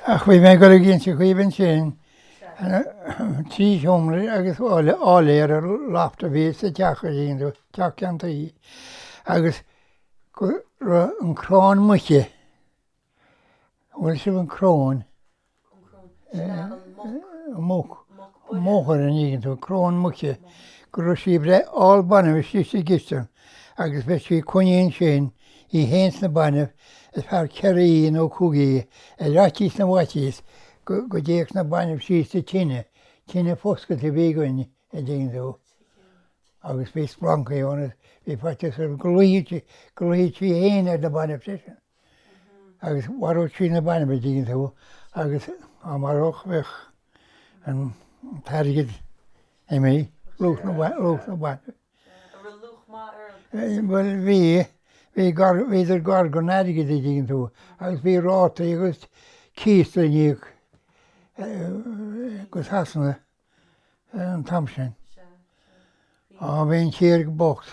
Ach bhí mé ag goil ag inseacht dhaoibh ansin, trí sheomra agus áiléar ar lofta a bhí sa teach againne, teach ceann tuí, agus go raibh an chráin muice, bhfuil fhios agaibh an chráin muc máthair an dtuigeann tú cráin muice go raibh sí ag breith ál banbh istigh sa gcistin agus bheadh sí coinnithe ansin í fhéin is na bainbh ar feadh ceithre oíche nó cúig oíche ar fhaitíos na bhfaitíos go go dtéadh na bainbh síos sa tine tine foscailte a bhí againn an dtuigeann tú agus bhí splancaí ann is bhí faitíos orm go luífeadh sí go luífeadh sí fhéin ar na bainbh freisin. Agus mharódh sí na bainbh dtuigeann tú agus dá maródh bheadh an t-airgead imithe luach na luach na mbanbh. Bhuel bhí bhí gearr bhíodar gearr go airgead an dtuigeann tú agus bhí rátaí agus cíos le n-íoc go Sasana an t-am sin. Á bhí an tír go bocht.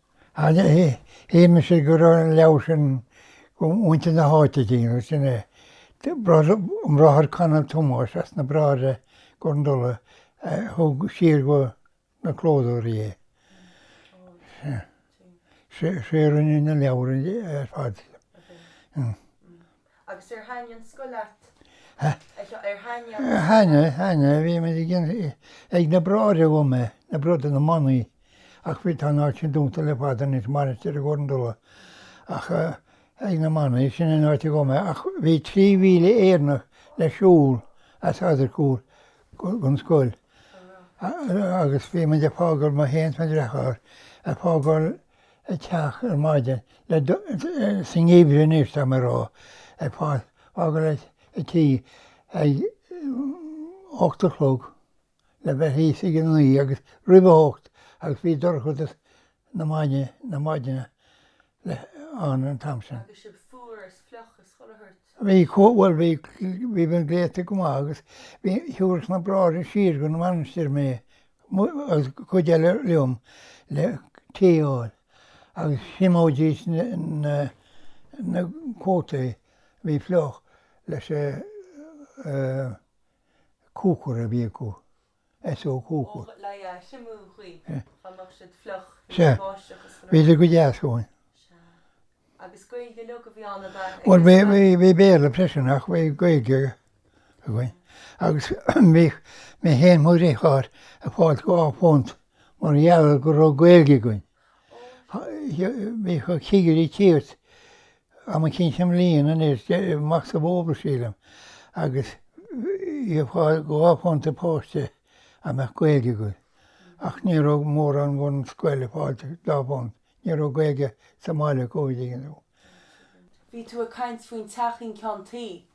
Ach shíl mise go raibh an leabhar sin ag muintir na háite dínn agus sin é. An Bráthair Conall Tomás as na Bráithre Chor an Dola a thug siar go na clódóirí é. Sé a rinne na leabhair ar fad. Agus ar thaitnigh an scoil leat? Ar thaitnigh an scoil leat? Á thaitnigh, bhí muid ag déanamh, ag na bráithre a chuaigh mé na brothers, na manaigh ach bhí, tá an áit sin dúnta le fada anois, Mainistir Chor an Dola ach ag na manaigh, sin an áit a chuaigh mé ach bhí trí mhíle Éireannach le siúl as Eadargúil go an scoil agus bhí muid ag fágáil, mé fhéin is mo dhriotháir, ag fágáil, ag teacht ar maidin le do sa ngeimhreadh anois tá mé a rá ag fágáil an tí ag a hocht a chlog le bheith thíos ag a naoi agus roimh a hocht agus bhí dorchadas na maidine na maidine ann an t-am sin. Agus sibh fuar is fliuch is chuile shórt. Bhí comh, bhuel, bhí, bhí mé gléasta go maith agus bhí, thiúrfadh na bráithre siar go mainistir mé agus cuid eile liom le tae a fháil agus thriomóidís na, na cótaí a bhí fliuch leis an cúcar a bhí acu. as ó dhúchas. Bhíodar go deas dhúinn. Bhuel bhí Béarla freisin ach bhí Gaeilge againn agus bhí mé fhéin mo dhriotháir ag fáilt dhá phunt mar gheall go raibh Gaeilge againn. Bhí cigirí ag tíocht am éicint sa mbliain anois de Mac sa Bhóthar sílim agus iad ag fáil dhá phunt an páiste a mbeadh Gaeilge acu ach ní raibh mórán den scoil ag fáil an dá phunt, ní raibh Gaeilge sa mbaile acu an dtuigeann tú. Bhí tú ag caint faoin teach ceann tuí.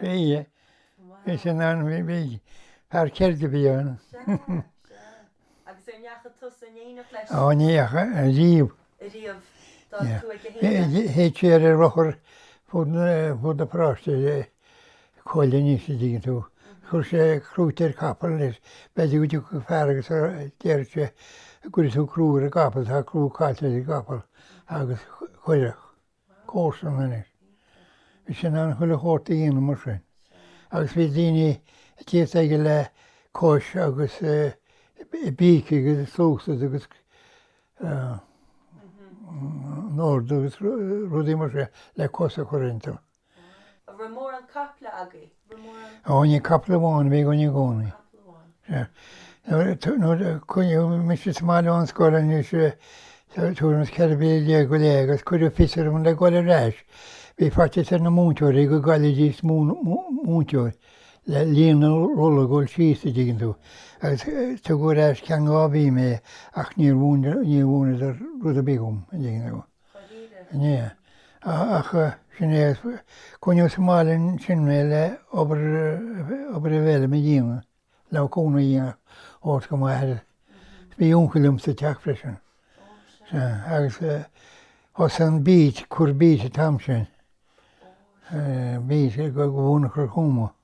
Bhíodh. Bhí sé in ann. Bhí fear ceirde a bhí ann. Sea. Agus an ndeachaigh tusa in éineacht leis? Á ní dheachaigh ariamh. Ariamh. D'fhág tú aige féin. Théadh sé ar a rothar fud na paráiste Coille níos a' dtuigeann tú. Chuireadh sé crúite ar chapaill leis. B'fhéidir go dtiocfadh fear agus déarfadh sé an gcuirfidh tú crú ar an gcapall. Tá crú caillte ar an gcapall agus chuirfeadh. gcomharsana anois. Bhí sé in ann chuile shórt a dhéanamh mar sin agus bhí daoine ag tíocht aige le cois agus i bpíc agus i sluasaid agus in ord agus rudaí mar sin le cos a chur iontu. An raibh mórán caiple agaibh? Ó ní capall amháin a bhí againn i gcónaí. Sea. Nuair a coinníodh mise sa mbaile ón scoil anois eh, tuairim is ceithre bliana déag go leith agus cuireadh fios orm le gabháil ar ais. Bhí faitíos ar na múinteoirí go gcaillfidís múinteoir le líon na rolla a dhul síos, a' dtuigeann tú, agus tugadh ar ais go ceann dhá mhí mé ach níor mhúineadar rud ar bith dhom, a' dtuigeann tú. Sin é, ach sin é coinníodh sa mbaile ansin mé le obair obair a bheith le mo dhéanamh le mo cúnamh a dhéanamh thabhairt do m'athair. Bhí uncail liom sa teach freisin. Sea, agus thosaigh an beet, ag cur beet an t-am sin. Beet, go monarcha Thuama.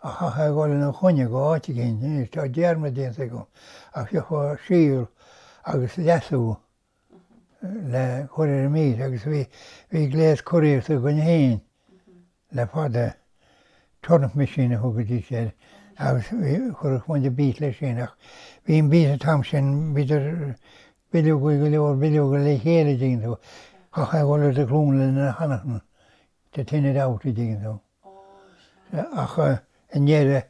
a chaithfeá a dhul ina choinne go áit éigin. Anois tá dearmad déanta agam ach gheofá síol agus leasú le cur ar an mbeet agus bhí, bhí gléas curaíochta againn fhéin le fada, turnip machine a thugaidís air agus bhí, chuirfeadh muid an beet leis sin ach bhí an beet an t-am sin, bhíodar bileogaí go leor, bileoga le chéile, tuigeann tú, chaithfeá a dhul ar do ghlúine lena thanaíochan, to thin it out, tuigeann tú. ach i ndeireadh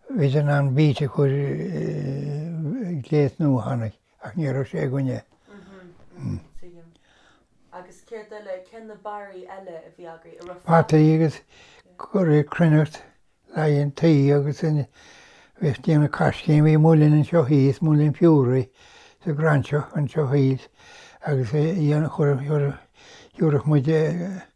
bhíodar in ann beet a chur gléas nua a tháinig ach ní raibh sé againne. mhm tuigim agus céard eile cé na barraí eile a bhí agaibh an raibh fataí agus ag cur cruithneacht le haghaidh an tuí agus ag déanamh caiscín bhí muileann anseo thíos muileann Furey sa nGráinseach anseo thíos agus dhéanamh chuir chuir thiúrfadh muid eh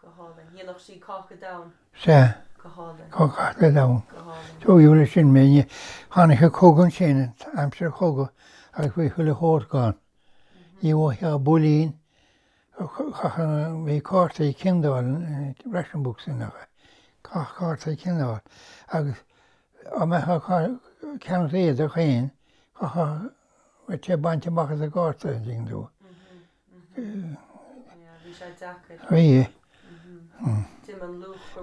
go hálainn. Dhéanfadh sí cáca donn. Sea. go hálainn. Go cáca donn. go hálainn. Tóigeadh leis sin mé. Ní tháinig an cogadh ansin, aimsir an chogaidh, agus bhí chuile shórt gann. Ní bhfaigheá builín, bhí cártaí ciondáil, ration books ann, chaithfeá Cártaí ciondáil. Agus dá mbeifeá ag ceannacht éadaí féin, chaithfeá rud eicínt a bhaint amach as an gcárta, an dtuigeann tú.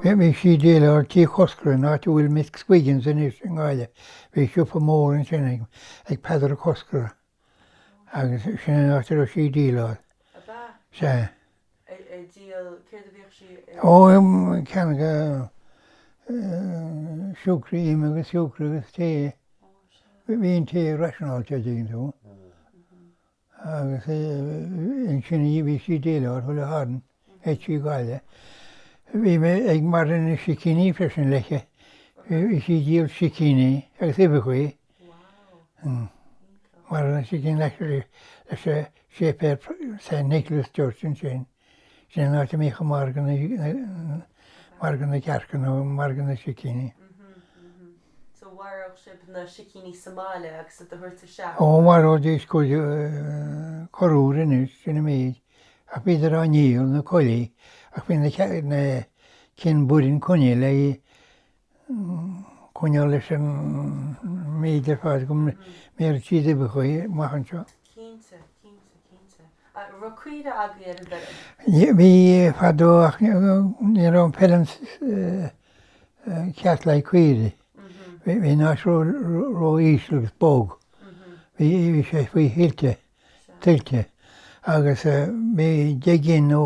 Bhí sí ag déileáil tigh Choscartha, áit a bhfuil McSwiggans anois i nGaillimh. Bhí siopa mór ansin ag Peadar Ó Coscara agus sin an áit a raibh sí ag déileáil. Ab ea? Sea. Ag díol, céard a bhíodh sí ag? Ó, ag ceannacht siúcra, im agus siúcra agus tae. Bhí an tae rationeáilte, an dtuigeann tú. agus ansin bhí sí ag déileáil chuile Shatharn aici i nGaillimh. Bhí mé ag margadh na sicíní freisin léithi. Bhí sí ag díol sicíní agus uibheachaí. Margadh na sicíní leis an séipéal Saint Nicholas Church ansin. Sin an áit a mbíodh margadh na gcearca nó margadh na sicíní. So mharódh sibh na sicíní sa mbaile agus a thabhairt isteach? Ó, mharóidís cuid corruair anois, sin an méid, ach bhíodar á ndíol, na coiligh, ach bhí na cinn baineann coinnithe le. coinneáil leis an méid ar fad go mbeidh siad ag uibheachaí amach anseo. Cinnte, cinnte, cinnte. Raibh caoirigh agaibh ar an bhfeirm? Bhí fadó ach ní raibh an fheilm ceart le haghaidh caoirigh. Bhí an áit ró-íseal agus bog. Bhí sé faoi thuilte, tuilte, agus bhí deich gcinn nó.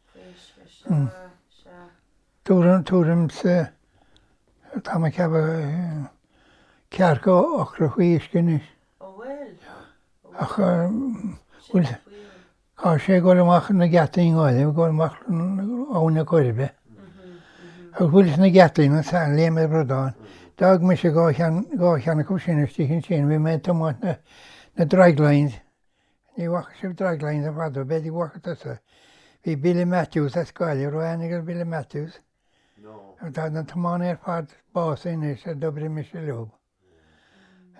tuairim is tá mé ag ceapadh ceathracha acra faoi uisce anois. Ó bhuel. Ach bhuel tá sé ag dul amach na geataí i nGaillimh ag dul amach Abhainn na Coiribe. Agus bhuel is na geataí sa Léim an Bhradáin. D'fhág mise dhá cheann dhá cheann acu sin istigh ansin bhí mé ag tiomáint na draglines. Ní bhfaca sibh draglines i bhfad, b'fhéidir go bhfaca tusa. Bhí Billy Matthews as Gaillimh, raibh aithne agat ar Billy Matthews? No. Tá na tiománaithe ar fad básaithe anois a d'oibrigh mise leo.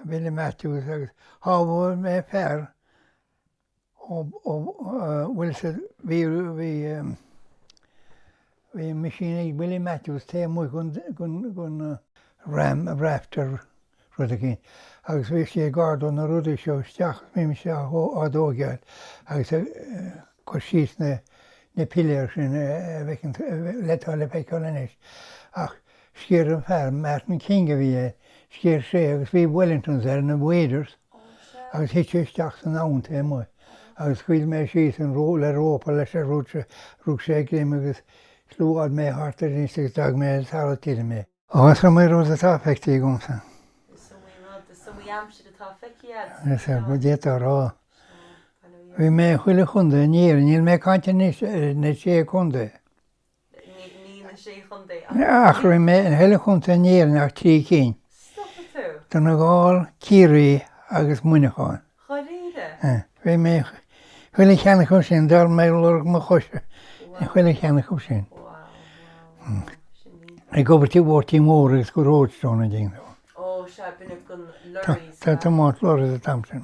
Billy Matthews agus shábháil mé fear ó, ó, bhuel sa, bhí, bhí, Bhí an mise agus Willie Matthews taobh amuigh gon ram a rafter rud eicínt agus bhíodh sí ag ardú na rudaí seo isteach agus bhí mise á dtóigeáil agus ag cur síos na piléir sin a bhfeiceann le atá le feiceáil anois ach sciorr an fear, Martin King a bhí air, sciorr sé agus bhí Wellingtons air nó waders. agus thit sé isteach san abhainn taobh amuigh agus scaoil mé síos an ró le rópa leis agus rug sé, rug sé greim agus swingeáil mé thart air anois agus d'fhág mé ar talamh tirim é. Ó, is iomaí rud atá feicthe agamsa. Is iomaí rud, is iomaí aimsir atá feicthe agatsa. Is ea, go d'fhéadfá a rá. Bhí mé i chuile chontae in Éirinn, níl mé ag caint anois ar na sé chontae. Ach chuile chontae in Éirinn ach trí cinn, Donegal, Ciarraí agus Muineachán. Bhí mé in chuile cheann acu sin, d'fhág mé lorg mo choise in chuile cheann acu sin. Ag obair tigh Mháirtín Mhóir agus go Roadstone ina dhiaidh, ag tiomáint lorries an t-am sin.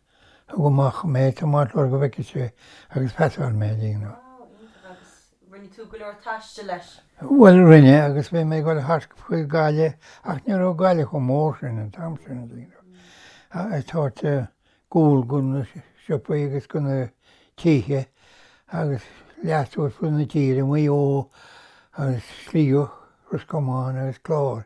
Thug sé amach mé tamall go bhfeiceadh sé agus phasáil mé ag éigniú. Agus rinne tú go leor taistil leis? Bhuel, rinne, agus bhí mé ag dul thart faoi Ghaillimh ach ní raibh Gaillimh chomh mór sin an t-am sin, a dóigh liom. Thart ag goil go na siopaí agus go na tithe agus thart ar fud na tíre, Maigh Eo agus Sligeach, Ros Comáin agus Clár.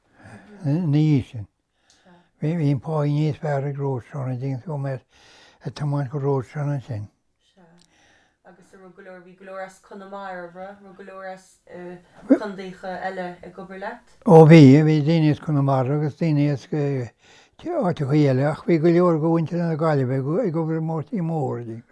Ina dhiaidh sin, bhí an páí níos fearr ag Roadstone, d'imigh mé ag tiomáint go Roadstone ansin. Agus an raibh go leor, bhí go leor as Conamara, an raibh go leor as condaeacha eile ag obair leat? Ó bhí, bhí daoine as Conamara agus daoine as áiteachaí eile ach bhí go leor go mhuintir na Gaillimhe ag obair ag Máirtín Mór, a dhéanamh.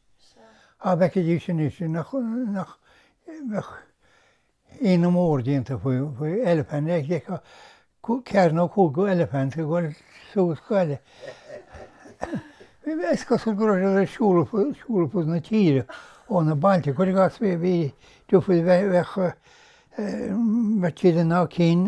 Dá bhfeicfidís anois nach mbeadh ionadh mór déanta faoi eilifint, dá dtiocfadh ceathair nó cúigear eilifint ag gabháil suas an baile. Is cosúil go raibh siad ag siúl ar fud na tíre ó na báid, cuir i gcás, bhí difear, bheadh tíleanna ann, cinn,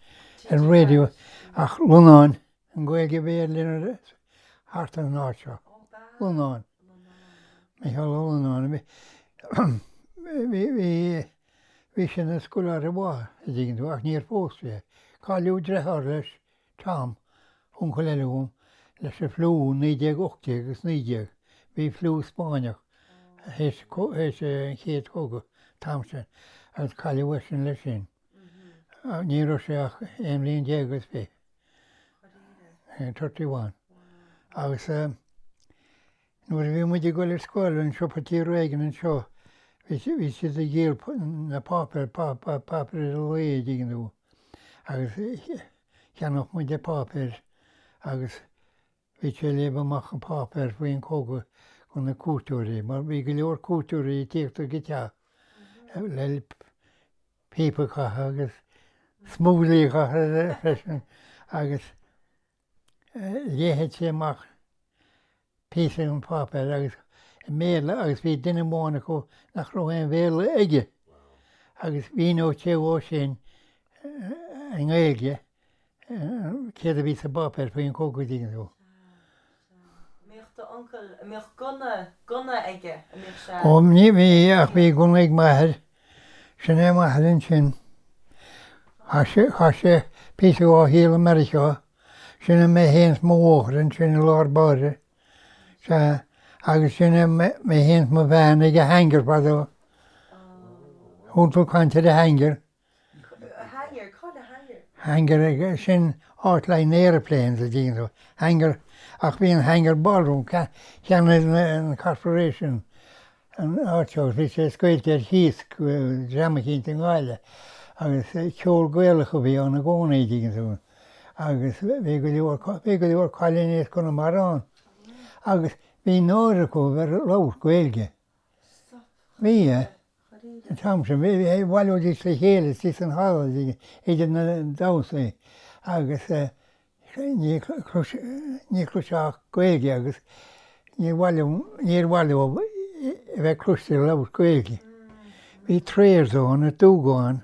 ar raidió ach Lonnáin an Ghaeilge a bhí air thart ar an áit seo. Lonnáin. Micheál Ó Lonnáin. Bhí bhí bhí bhí sin na scoláire maith an dtigeann tú ach níor phós sé. Cailleadh dreitheár leis, Tom, uncail eile dhom, leis an fliú naoi déag ocht déag agus naoi déag. Bhí fliú Spáinneach théis théis an chéad chogadh, Tom sin, agus cailleadh eisean leis sin. ach ní raibh sé ach aon bhliain déag agus fiche, thirty one, agus nuair a bhí muid ag goil ar scoil bhí siopa tigh Regan anseo bhí siad ag díol na bpáipéar, páipéar chuile lá, an dtuigeann tú agus cheannódh muid na páipéir agus Bhí sé ag léamh amach an páipéar faoin chogadh do na cuairteoirí, mar bhí go leor cuairteoirí ag tíocht chuig an teach le píopa a chaitheamh agus smokeáil a chaitheamh freisin agus léifeadh sé amach píosa den pháipéar i mBéarla agus bhí duine amháin acu nach raibh aon Bhéarla aige agus mhíneodh sé dhó sin i nGaeilge céard a bhí sa bpáipéar faoin gcogadh, an dtuigeann tú. Mbíodh d'uncail, a mbíodh gunna, gunna aige, a mbíodh sé. Ó, ní bhíodh, ach bhí gunna ag m'athair. Sin é m'athair ansin. Chaith sé, chaith sé píosa dhá shaol i Meiriceá. Sin é mé féin 's mo mháthair ansin i lár báire. Sea, agus sin é mé féin 's mo bhean ag an Hangar fadó. Chuala tú caint ar an Hangar. Hangar, céard é hangar? Hangar, sin áit le haghaidh aeroplanes, an dtuigeann tú, hangar, ach bhí an hangar ballroom, cheannaigh an corporation, an áit seo agus bhí sé scaoilte ar cíos ag dream eicínt i nGaillimh agus ceol Gaelach a bhí ann i gcónaí, tuigeann tú, agus bhí go leor, bhí go leor cailíní as Conamara ann agus bhí náire acu a bheith ag labhairt Gaeilge. Bhí, yeah. An t-am sin, bhailíodís le chéile istigh san halla idir na damhsaí agus ní chloisfeá Gaeilge agus níor mhaith leo a bheith cloiste ag labhairt Gaeilge. Bhíodar ag tarraingt, an dtuigeann tú, an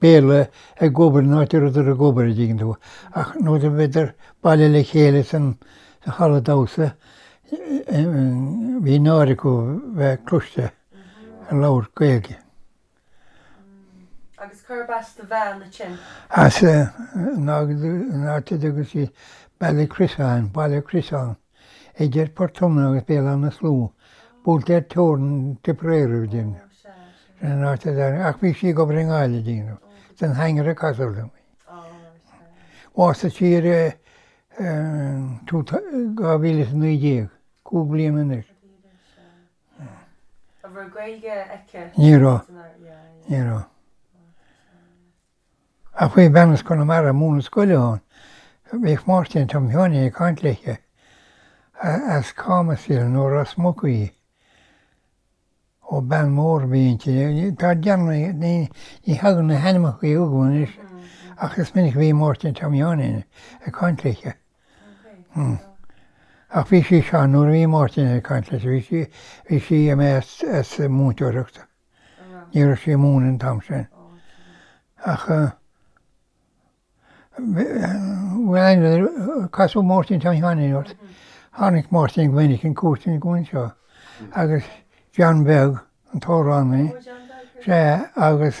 Béarla ag obair san áit a rabhadar ag obair, an dtuigeann tú, ach nuair a bhíodar bailithe le chéile sa halla damhsa bhí náire acu bheith cloiste ag labhairt Gaeilge. Agus cárb as do bhean ansin? As, in áit a dtugann siad Ballycrissaghan, Baile Criosann. Idir Port Omna agus Béal Átha na Sluagh, buailte ar teorainn Tipperary an dtuigeann tú. Sin an áit a d'airigh, ach bhí sí ag obair i nGaillimh an dtuigeann tú, san Hangar a casadh liom í. Bhásaigh sí i 2019, cúig bliana anois. Ní raibh. Ní raibh. Ach bhí bean as Conamara ag múineadh scoile ann, bhíodh Máirtín Tom Sheáinín ag caint léithe, as Camas í nó Ros Muc í. Ó, bean mhór a bhí inti, tá dearmad, ní thagann na hainmeachaí chugam anois ach is minic a bhí Máirtín Tom Sheáinín ag caint léithe. Ach bhí sí sean nuair a bhí Máirtín ag caint léithe, bhí sí, imithe as múinteoireacht. Ní raibh sí ag múineadh an t-am sin ach bhfuil aithne, ar casadh Máirtín Tom Sheáinín ort. Tháinig Máirtín go minic ar cuairt agam anseo agus John Beag an t-amhránaí, sé agus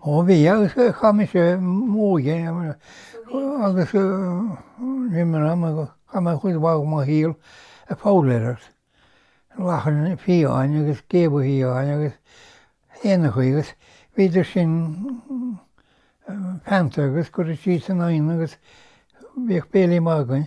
Ó bhí, agus chaith mise m'óige agus níl mé in ann, chaith mé cuid mhaith de mo shaol ag foghlaeireacht, lachain fiáine agus géabha fiáine agus éanachaí agus bhíodar sin feannta agus curtha síos in oigheann agus bhíodh béilí maith againn.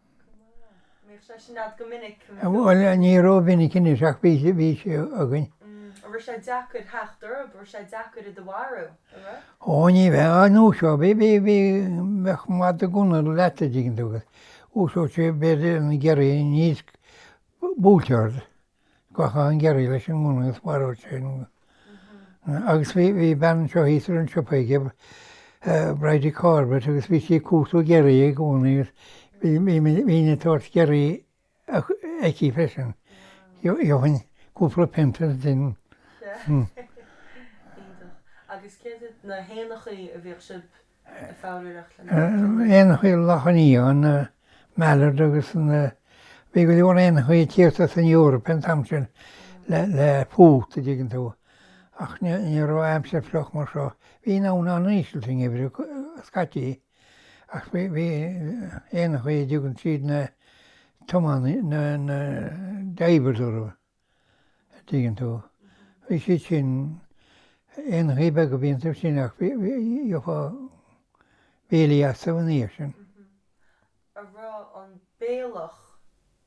Bhuel, ní ró-mhinic anois ach bhí sé againn. Ó, ní bheadh, dhúiseodh, bhí, bhí, bhí, bheadh mada gunna leat a' dtuigeann tú agus dhúiseodh sé b'fhéidir an giorria níos, buailteach ort. go gcaithinn giorria leis an ngunna is mharódh sin. Agus bhí bean anseo thíos a raibh an siopa aici, Bridie Corbett, agus bhí sí ag cuartú giorria i gcónaí agus bhí mé ag tabhairt giorria aici freisin. Gheobhainn cúpla punt as sin. Iontach. Agus céard iad na héanachaí a bhíodh sibh éanachaí, lachain fiáine, mallard agus na bhí go leor éanachaí ag tíocht as an Eoraip an t-am sin le le fuacht a dtuigeann tú ach ní raibh aimsir fliuch mar seo. Bhí an abhainn an-íseal sa ngeimhreadh scaití ach bhí bhí aon chaoi a dtugann tríd na tiománaí na na diver dóibh. an dtuigeann tú. Bhí siad sin, éanachaí beaga a bhí iontu sin ach bhí, gheofá béilí astu ina dhiaidh sin. a rá an béalach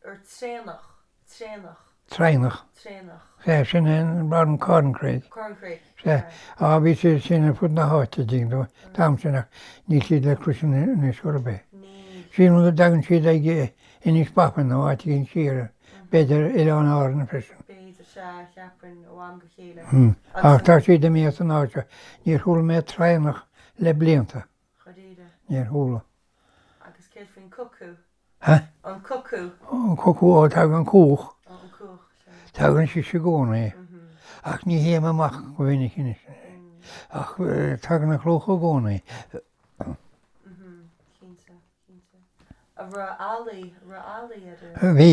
or traonach, traonach. traonach, traonach. Sea, sin é an an corncrake. Corncrake, Sea. sea. Á, bhí siad sin ar fud na háite, a dtuigeann tú, an t-am sin ach níl siad le cloisint anois chor ar bith. Níl. Sílim go dtagann siad ag, Inis Bó Finne nó áit éigin siar, b'fhéidir Oileáin Árann freisin. B'fhéidir, sea, a cheapfainn ó am go chéile. Hum. Ach tá siad imithe as an áit seo. Níor chuala mé traonach le blianta. Cha deireadh. Níor chuala. Agus céard faoin cuckoo? Hea? An cuckoo? Ó, an cuckoo, ó, tagann cuach. Ó, an cuach, sea. Tagann sise i gcónaí. Mhm. Ach ní théim amach go minic anois. Ach tagann an chuach i gcónaí. Mhm, cinnte. bhí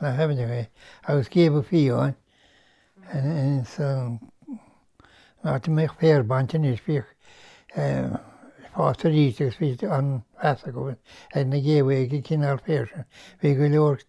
na caibidlí agus géabha fiáine ins an áit a mbeadh féar bainte anois, bhíodh sé fásta arís agus bhí an-mheas acu ag na géabha ag an gcineál féir sin. Bhí go leor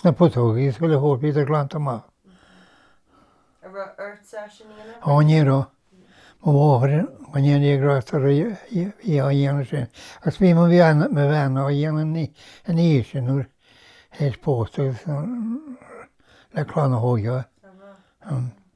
sna putógaí is chuile shórt, bhíodar glanta amach. Ó, ní raibh. Mo mháthair go ndéana Dia grásta uirthi a bhí á dhéanamh sin agus bhí mo bhean á dhéanamh ina dhiaidh sin nuair a théis pósta agus le clann a thóigeáil.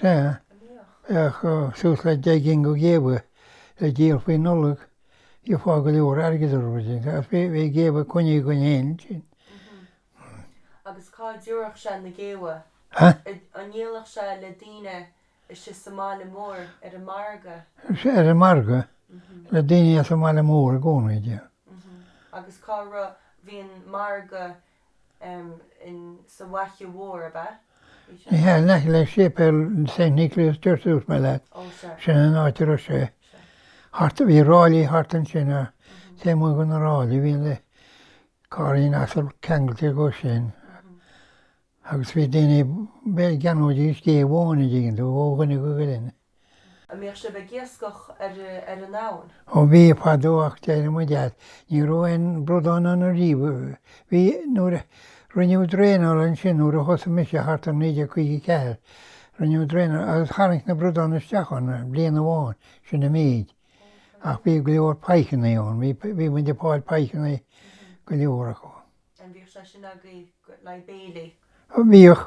Sea, bheadh suas le deich gcinn go géabha le díol faoi Nollaig, gheofá go leor airgid orthu ansin, ach bheadh géabha coinnithe againn féin ansin. Agus cá dtiúrfadh sé na géabha? An ndíolfadh sé le daoine istigh sa mbaile mór, ar an margadh? Sea, ar an margadh, le daoine as an mbaile mór i gcónaí, yeah. Agus cá raibh, bhí an margadh Ní hea, in aice le séipéal Saint Nicholas Church dúirt mé leat, sin an áit a raibh sé. Thart, bhí ráillí thart ansin a, taobh amuigh de na ráillí bhí na carraí asail ceangailte dhó sin agus bhí daoine, b'fhéidir go gceannóidís gé amháin, an dtuigeann tú, ó dhuine go duine. a mbíodh sibh ag iascach ar an abhainn? Ó bhí, fadó ach d'éirigh muid as. Ní raibh aon bhradán ann ariamh. Bhí, nuair a, rinneadh draenáil ansin nuair a thosaigh mise, thart ar 1954. Rinneadh draenáil agus tháinig na bradáin isteach ann bliain amháin, sin an méid. Ach bhí go leor pikeanna ann, bhí, bhí muid ag fáil pikeanna go leor acu. An mbíodh sé sin agaibh le haghaidh béilí? Bhíodh.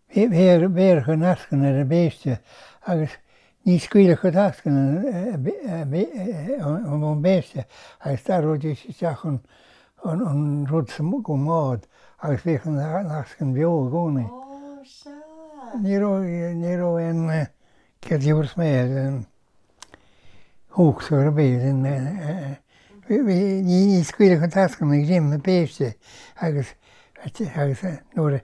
Bhéarfadh an eascann ar an bpéiste agus ní scaoilfeadh an eascann ón bpéiste agus d'ardóidís isteach an rud sa mbád agus bheadh an eascann beo i gcónaí. Ní raibh aon chead diamhras méir ar an. uachtar bídís ag scaoileadh an teascán i ndroim na péiste agus agus nuair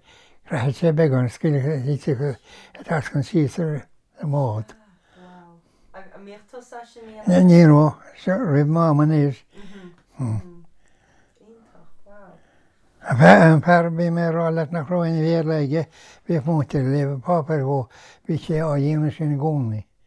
raibh sé beagán scaoileadh thiteadh an teascán síos ar an mbád. Ní raibh, seo roimh m'am anois. Ach bhí an fear bhí mé a rá leat nach raibh aon Bhéarla aige bhíodh muintir ag léamh páipéir dhó, bhí sé á dhéanamh sin i gcónaí.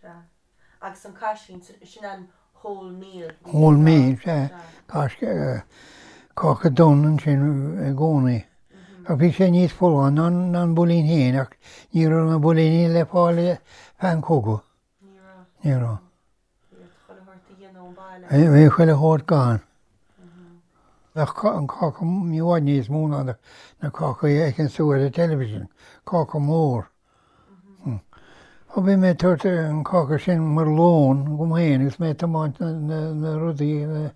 Sea. Agus an cath sin, sin an whole meal. Whole meal, sea. Cáca, cáca donn ansin i gcónaí. Ach bhí sé níos folláin ná ná an builín féin ach ní raibh na builíní le fáil i bhfad an chogaidh. Ní raibh. Ní raibh. Bhí iad chuile shórt dhá dhéanamh sa mbaile. Bhí bhí chuile shórt gann. Bheadh an cáca i bhfad níos mó ná na cácaí a fheiceann tú ar an television. Cáca mór. Ó bhí mé ag tabhairt an cáca sin mar lón dhom féin agus mé ag tiomáint na rudaí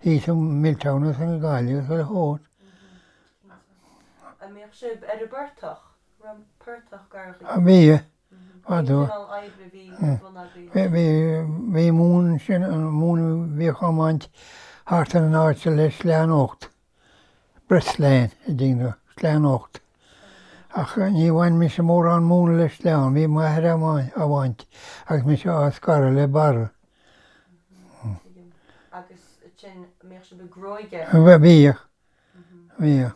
thíos an Milltown agus an Gaillimh agus ar fud. An mbíodh sibh ar an bportach, portach Gardaí? Á bhíodh, fadó. Cén cineál oibre a bhí ar bun agaibh? Bhí, bhí móin ansin, móin a bhíodh á baint thart ar an áit seo le sleán ocht. Breastsleán a dhéanamh, sleán 8 Ach níor bhain mise mórán móna le sleán, bhí m'athair á bhaint agus mise á scaradh le barra. Bhíodh. Bhíodh.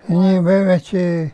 Ní bheadh sé.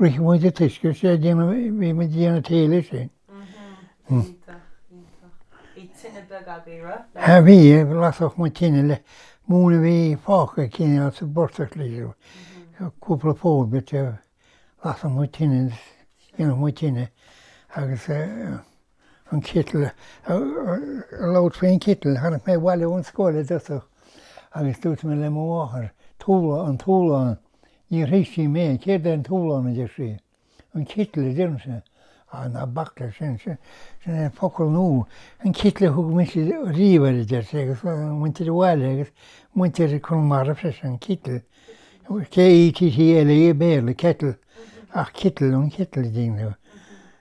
Bhíodh muid i dtuiscint tae a dhéanamh bhí muid, an tae leis sin. Bhí tine beag agaibh ra? Sea bhí, lasfadh muid tine le móin a bhí fágtha cineál sa bportach leis an bhfuil cúpla fód bit lasfadh muid tine déanfadh muid tine agus an citeal, an leaid faoin citeal, tháinig mé abhaile ón scoil i dtosach agus dúirt mé le mo mháthair, Tabhair an túlán, níor thuig sí mé, céard é an túlán, a deir sí. An citeal, a deirimse. Á, ná bac leis sin, sin é an focal nua, an citeal a thug mise riamh air, a deir sí, agus muintir an bhaile agus muintir Conamara freisin, an citeal, K-e-t-t-l-e, Béarla, kettle, ach citeal, an citeal, a deineadh.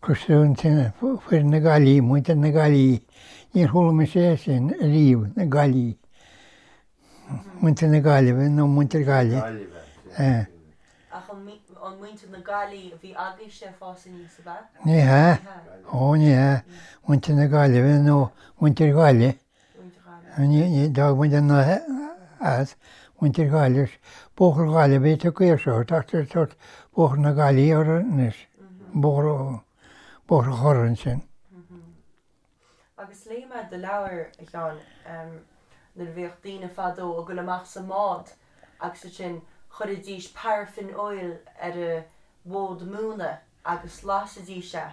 Coiste Foirne, foireann na Gaillimhe, muintir na gcaillí, níor chuala mise é sin ariamh, na Gaillimhe, muintir na Gaillimhe nó muintir Gaillimhe, eh. Ach an muintir na Gaillimhe a bhí agaibhse ag fás aníos, ab ea? Ní hea, ó ní hea, muintir na Gaillimhe nó muintir Ghaillimh. Ní dóigh muid an as mhuintir Ghaillimh. Bóthar Ghaillimhe tugtha air seo, ach is dócha Bóthar na Gaillimhe a rud anois, Bóthar Chorr ansin. Agus léigh mé do leabhar, a Sheáin, nuair a bhíodh daoine fadó ag dul amach sa mbád agus ansin chuirfidís paraffin oil ar a bhfód móna agus lasaidís é.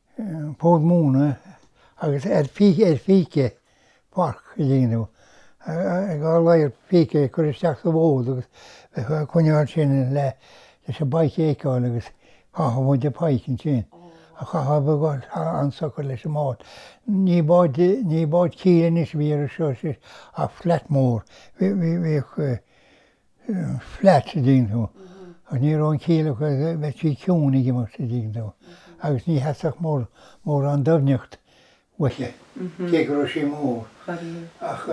fód móna agus ar phíce farc a dhéanamh, dhá ladhar píce a chur isteach sa bhfód agus bheith ag coinneáil sin leis an bpike a fheiceáil agus chaithfeadh muid an pike ansin a chaitheamh go han-socair leis an mbád. Ní bád, ní bád cíle anois a bhí againn anseo ach flat mór. Bhíodh. flat an dtuigeann tú agus ní raibh an cíle aici bheadh sí ciúin ag imeacht an dtuigeann tú agus ní theastódh mórán doimhneacht uaithi cé go raibh sí mór ach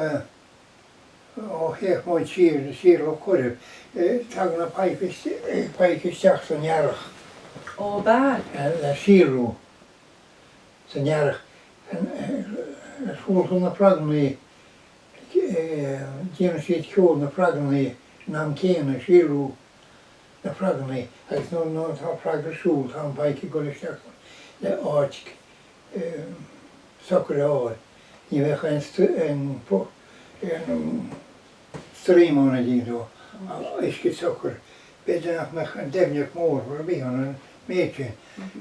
ó théadh muid siar siar Loch Coirib tagadh na pike isteach san earrach Ó ba. le síolrú san earrach ar fuair tú na fragannaí déanann siad ceol na bhfraganna san am céanna, síolrú na bhfraganna, agus nuair atá fraganna ag síolrú tá an pike ag dul isteach le áit socair a fháil. Ní bheadh aon stream ann d'iarrfadh uisce socair, b'fhéidir nach mbeadh an doimhneacht mór ar bith ann an méid sin.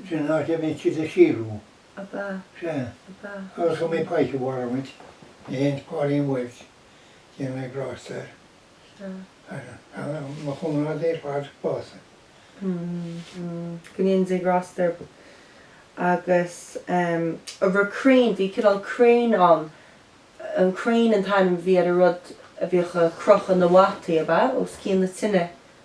Sin an áit a bhíonn siad ag síolrú. Sea. Agus an mbeidh pike a war muid? Ní théann Pauline Welch, déana Dia grásta air. Sea. Mo chomrádaí ar fad básaithe. Go ndéana Dia grásta air. Agus a raibh crane, bhí cineál crane ann, an crane an t-ainm a bhí ar an rud a bhíodh a' crochadh na bpotaí, ab ea? Os cionn na tineadh.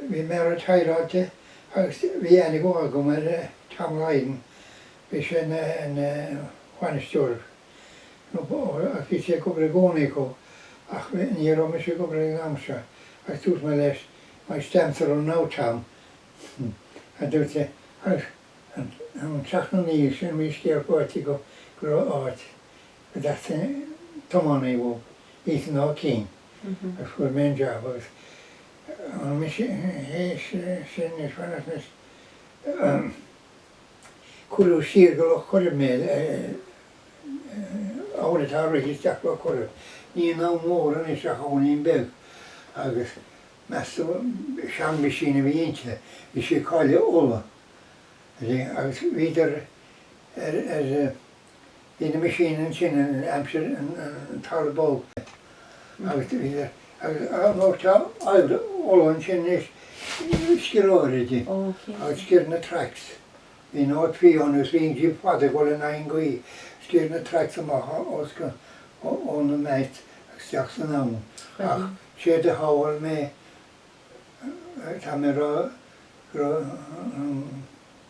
Bhí mé ar an tsráid agus bhí aithne agam ar Tom Lydon, bhí sé ina bhainisteoir nó agus bhí sé ag obair i gcónaí acu ach ní raibh mise ag obair ag an am seo agus dúirt mé leis My stamps are out now Tom, a dúirt sé, agus an teach na naoimh sin bhí scéal faighte go raibh áit go dteastaíonn tiománaí uaidh, Ethan Ó Cinn. agus fuair mé an jab agus an meaisín sin is bhaineas mé cuireadh siar go Loch Coirib mé abhainn atá ag rith isteach Loch Coirib. Ní abhainn mhór anois ach abhainnín beag agus meastú seanmheaisín a bhí inti, bhí sí ag Cáile Uladh agus bhíodar ar Ina misean ansin in aimsir an Tara Bog agus an uair seo Uladh ansin is sciorr sí agus sciorr na tracks. Bhí North Fee ann agus bhí jib fada ag dul in aghaidh an ghaoth. Sciorr na tracks amach ó na mats agus isteach san abhann. Ach séard a shábháil mé, tá mé ag rá go raibh an,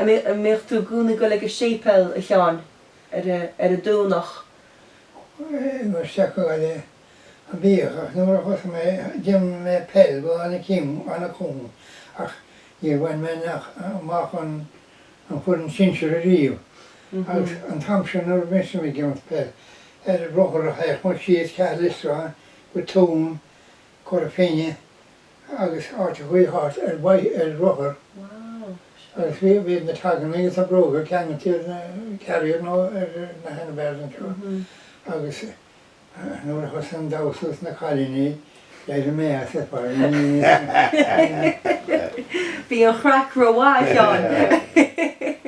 An mbeadh tú i gcónaí ag dul go séipéal, a Sheáin, ar an Domhnach? I mo stócach bhíodh ach nuair a thosaigh mé ag imirt mé peil go Annach Cuain ach níor bhain mé amach an an foireann sinsir ariamh agus an t-am sin nuair a bhíos mé ag imirt peil ar rothar a théadh muid síos Ceathrú Liostáin go Tuaim, Cora Finne. agus áit ar bith thart ar maidin ar rothar agus bhí bhí na togs agus na bróga ceangailte ar an carrier nó ar na handlebars anseo agus nuair a thosaigh an damhsa is na cailíní d'éirigh mé as ar fad ní ní Bhí an chraic rómhaith a Sheáin.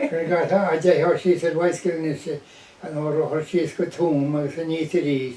Chuir gach a dteitheadh síos ar bhicycle anois an rothar síos go Tuaim agus aníos arís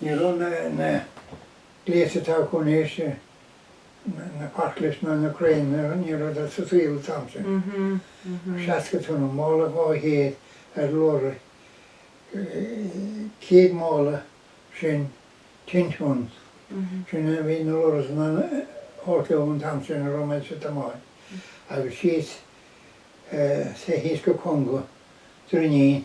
Ní raibh na gléas atá acu anois, na forklift ná na crane, ní raibh siad sa saol an t-am sin. 60 tonna, mála dhá chéad ar lorry, 100 mála sin ten ton, sin a bhí na lorries in ann a thabhairt leo an t-am sin a raibh muid ag tiomáint agus síos thíos go Conga, Droinín,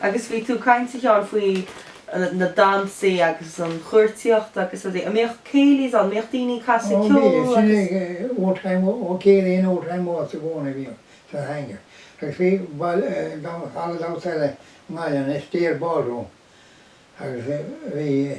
Agus bhí tú ag caint a Sheáin faoi na damhsaí agus an chuartaíocht agus rudaí, an mbíodh céilí's ann, an mbíodh daoine ag casadh ceol agus? Ó bhí, sin é old time, ó céilí and old time waltz i gcónaí a bhíodh sa hangar agus bhí halla damhsa eile i nGaillimh, an Astaire Ballroom agus bhí,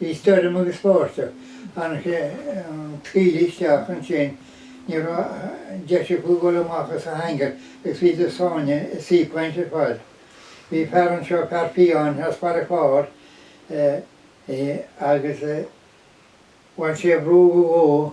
Bhí stoirm agus báisteach ar an tsáile isteach ansin, ní raibh deis acu dul amach as an hangar agus bhí na daoine ina suí caint ar fad. Bhí fear anseo, fear fiáin as Baile Chláir é agus bhain sé bhrú go dhó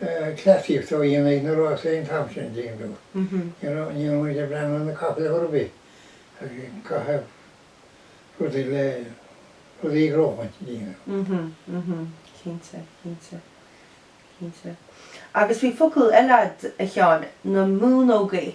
cleasaíocht á dhéanamh ag na rásaí an t-am sin, ding dong, you know, ní raibh muid ag breathnú ar na capaill chor ar bith ag caitheamh rudaí le rudaí ag rómhaint, ding dong. Cinnte, cinnte, cinnte. Agus bhí focal eile a'd a Sheáin, na múnógaí.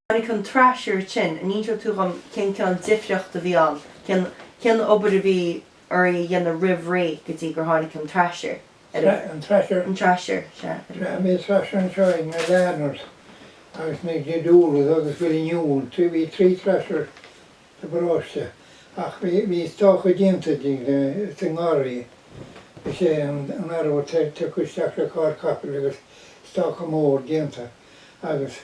Tháinig an thresher sin, an inseoidh tú dhom cén cineál difríocht a bhí ann, cén, cén obair a bhí oraibh a dhéanamh roimh ré go dtí gur tháinig an thresher ar an, an thresher? an thresher, sea, ar an. Sea, bhí an thresher anseo ag na Lardners agus na Didulas agus bhfuil in iúl, trí, bhí trí thresher sa bparóiste ach bhí, bhí stoca déanta di le, sa ngarraí, is é an, an arbhar te, tiocfadh isteach le carr capaill agus stoca mór déanta agus.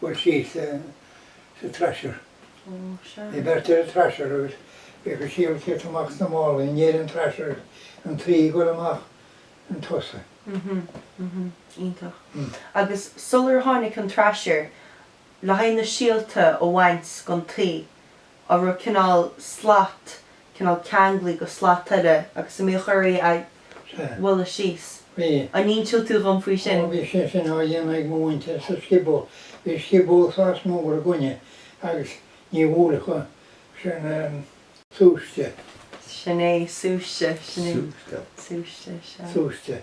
chur síos sa thresher. Bhí beirt ar an thresher agus bhíodh an síol ag teacht amach sna málaí in éadan an thresher an tuí ag goil amach chun tosaigh. Mh, iontach. Agus sular tháinig an thresher le haghaidh na síolta a bhaint gon tuí, an raibh cineál slat, cineál ceanglaithe go slat eile agus an mbíodh oraibh é a bhualadh síos. Bhí. An inseoidh tú dhom faoi sin? Ó, bhí sé sin á dhéanamh ag mo mhuintir sa scioból. Bhí scioból sách mór againne agus ní bhuailfeadh an, sin é an súiste. Sin é, súiste, sin é. Súiste. Súiste, sea. Súiste.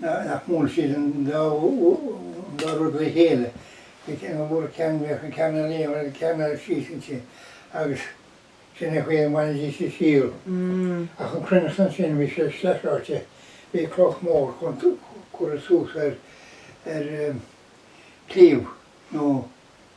nach mbuann siad an dá rud le chéile, bhí ceangal mhór ag ceann mhic an ceann ar líon agus ceann ar chíos inti agus sin é an chaoi a mbainidís an síol. Ach an chruithneacht ansin bhí sé sleichráite, bhí cloch mór curtha suas ar cliabh nó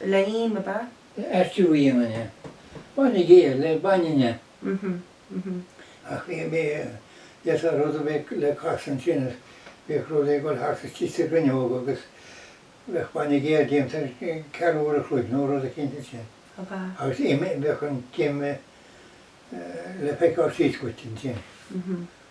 le him ab ea? Maistreadh a dhéanamh. Bainne géar le bainne. Mh. Mh. Ach bhí mé a dhéanamh tá rud a bheadh le casadh ansin is bheadh rud ag dul thart istigh sa gcuinneog agus bheadh bainne géar déanta tar éis ceathrú uair a chloig nó rud eicínt ansin. Ab ea? Agus im, bheadh an t-im le feiceáil síos dhuit ansin. Mh.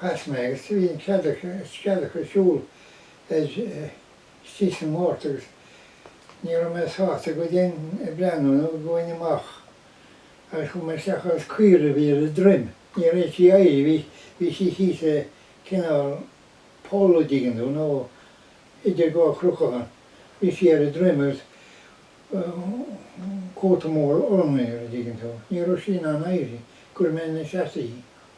Chas mé agus bhí an cead acu a scealach a siúl ar istigh sa ngort agus ní raibh mé sásta go dtí ag breathnú nó ag goil amach agus chuaigh mé isteach agus caora a bhí ar a droim, ní raibh sí ag éirí, bhí, bhí sí thíos le cineál poll an dtuigeann tú nó idir dhá chruceacha, bhí sí ar a droim agus cóta mór olann uirthi an dtuigeann tú, ní raibh sí in ann éirí, chuir mé ina seasamh í.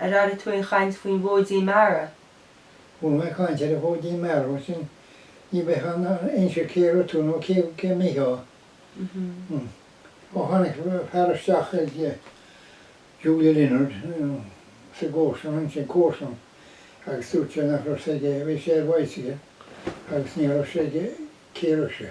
Ar airigh tú aon chaint faoin bhfóidín meara? Chuala mé caint ar an bhfóidín meara, mar sin ní bheifeá in ann a insint cá raibh tú nó cá mbíodh tú. Hm. Ó tháinig fear isteach ag Julia Leonard sa gcomharsain ansin, comharsan, agus dúirt sé nach raibh a fhios aige, bhí sé ar bhicycle agus ní raibh a fhios aige cá raibh sé.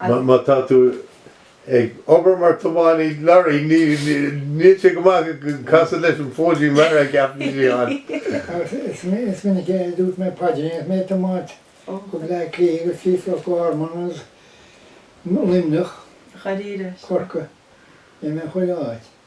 Má tá tú ag obair mar thiománaí lorraí, níl sé go maith casadh leis an phaidrín mar a cheapann sí ann. Is minic a dúirt mé paidrín agus mé ag tiomáint go Bleá Cliath agus síos go Loch Garman agus Luimneach, Corcaigh, bhí mé chuile áit.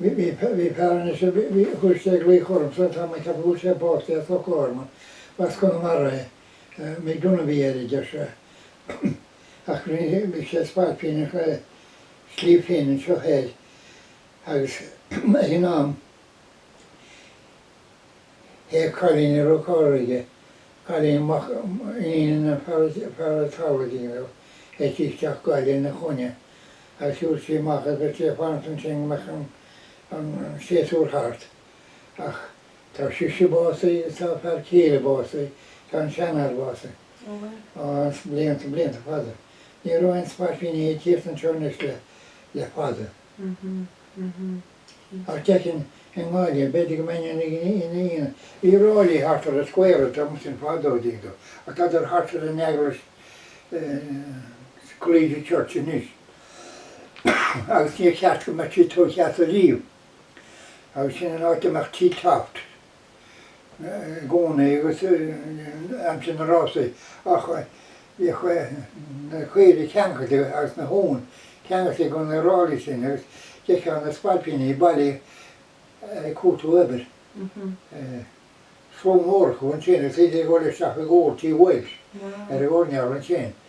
Bhí fear anois a chuir sé ag glaoch ormsa an t-am a cheap go bhfuil sé básaithe i Loch Garman. Ba as Conamara é. Mick Dunne a bhí air, a deir sé. Ach rinne sé spailpín ar Shliabh Finn anseo thoir agus ag an am théadh cailín ar roth cairr aige, cailín mhac, iníon an fear a tabharfaidh leo é, isteach go Baile Uí Chonaill. Shiúil sí amach agus í ag fanacht ansin go mbeadh an séasúr thart. Ach tá sise básaithe agus tá a fear céile básaithe, tá an seanfhear básaithe. Ó, blianta, blianta fada. Ní raibh aon spailpíní ag tíocht anseo anois le fada. Ach deirtear i nGaillimh, b'fhéidir go mbeinn ina aonar, bhí ráillí thart ar an square ag taobh ansin fadó, deir tú, ach tádar thart ar an eaglais Collegiate Church anois agus níor cheart go mbeadh siad tóigthe as ariamh. Agus sin an áit a mbeadh T-Toft. i gcónaí agus in aimsir na rásaí ach bhíodh na caoirigh ceangailte agus na huain ceangailte i gcónaí ar ráillí sin agus d'fheicfeá na spailpíní bailithe ag cuartú obair slua mór acu ansin agus iad ag dul isteach ag cuartú, bhuel, ar an gcearnóg ansin.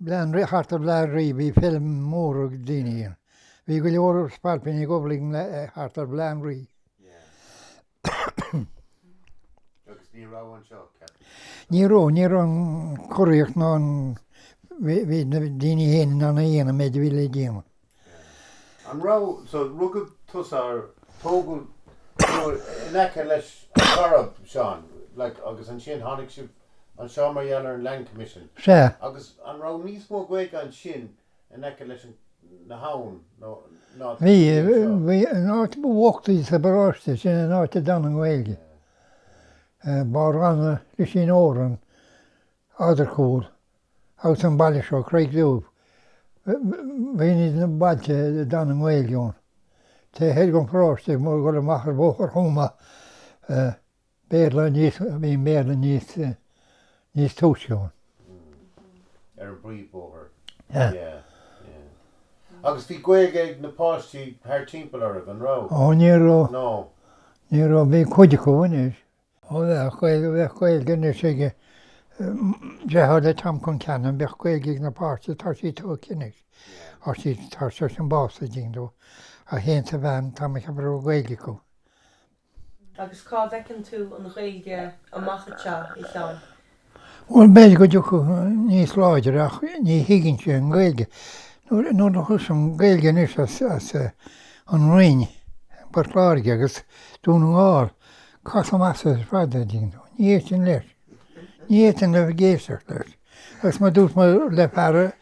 Lean thart ar Bhleá an Rí, bhí feilm mhór ag daoine ann. Bhí go leor spailpíní ag dul uilig thart ar Bhleá an Rí. Agus ní raibh anseo, ceapaim. Ní raibh, ní raibh an churaíocht ná an, bhí na daoine féin in ann a dhéanamh an méid a bhí le déanamh. An raibh, so, rugadh tusa or tógadh tú in aice leis an gCoirib, Seán, like agus ansin tháinig sibh anseo mar gheall ar an Land Commission? Sea. Agus an raibh níos mó Gaeilge ansin in aice leis an, na hAbhann nó ná atá Bhí, inniu anseo? bhí, an áit ba bhochtaí sa bparóiste, sin an áit a d'fhan an Ghaeilge. Eh, Barr Ranna, Lisín Óran, Adharcúl, Agus an baile seo, Creig Dubh, sin iad na bailte a d'fhan an Ghaeilge ann. Taobh thoir den pharóiste, ag dul amach ar Bhóthar Thuama, bhí an Béarla níos túisce ann. Ar an bpríomhbhóthar. Yeah, yeah. Agus bhí Gaeilge ag na páistí thar timpeall oraibh, an raibh? Ó, ní raibh. No. Ní raibh. Bhí cuid acu anois. Ó bheadh Gaeilge, bheadh Gaeilge anois ag, bhreithlá le Tom Chon Cheanainn, bheadh Gaeilge ag na páistí, tá sí togha anois, tá sí, tá seisean básaithe ding dó, é féin is a bhean, tá mé ag ceapadh go raibh Gaeilge acu. Agus cá bhfeiceann tú an Ghaeilge amach anseo, a Sheáin? Bhuel, b'fhéidir go dtiocfadh sí níos láidre ach ní thuigimse an Ghaeilge. Nuair a chloisim Gaeilge anois as an Rinn, Port Láirge agus Dún na nGall, casaim as í ar fad, a dtuigeann tú. Ní fhéadfainn leis. Ní fhéadfainn a bheith ag éisteacht leis. Agus mar a dúirt mé le fear a.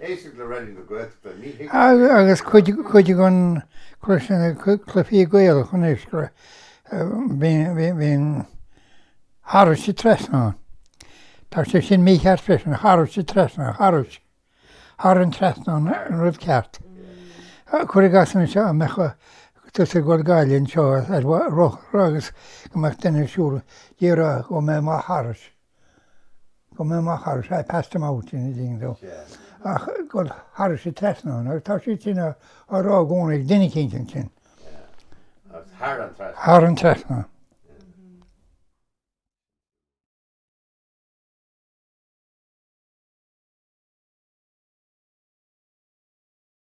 Éistigh le Raidió na Gaeltachta, ní thig liom é sin a Agus dhéanamh. ag cur síos ar na cluichí Gaelach anois bíonn thairis an trasnán. Tá sé sin mícheart freisin, thairis an trasnán, thar an trasnán an rud ceart. Cuir i gcás anois dá mbeadh tusa ag dul go Gaillimh anseo ar rothar agus go mbeadh duine ag siúl déarfá go ndeachaigh mé amach thairis. go ndeachaigh mé amach thairis, I passed him out, an dtuigeann tú, ach ag dul thairis an trasnán agus tá sé sin á rá i gcónaí ag duine eicínt ansin, agus thar an trasnán. thar an trasnán.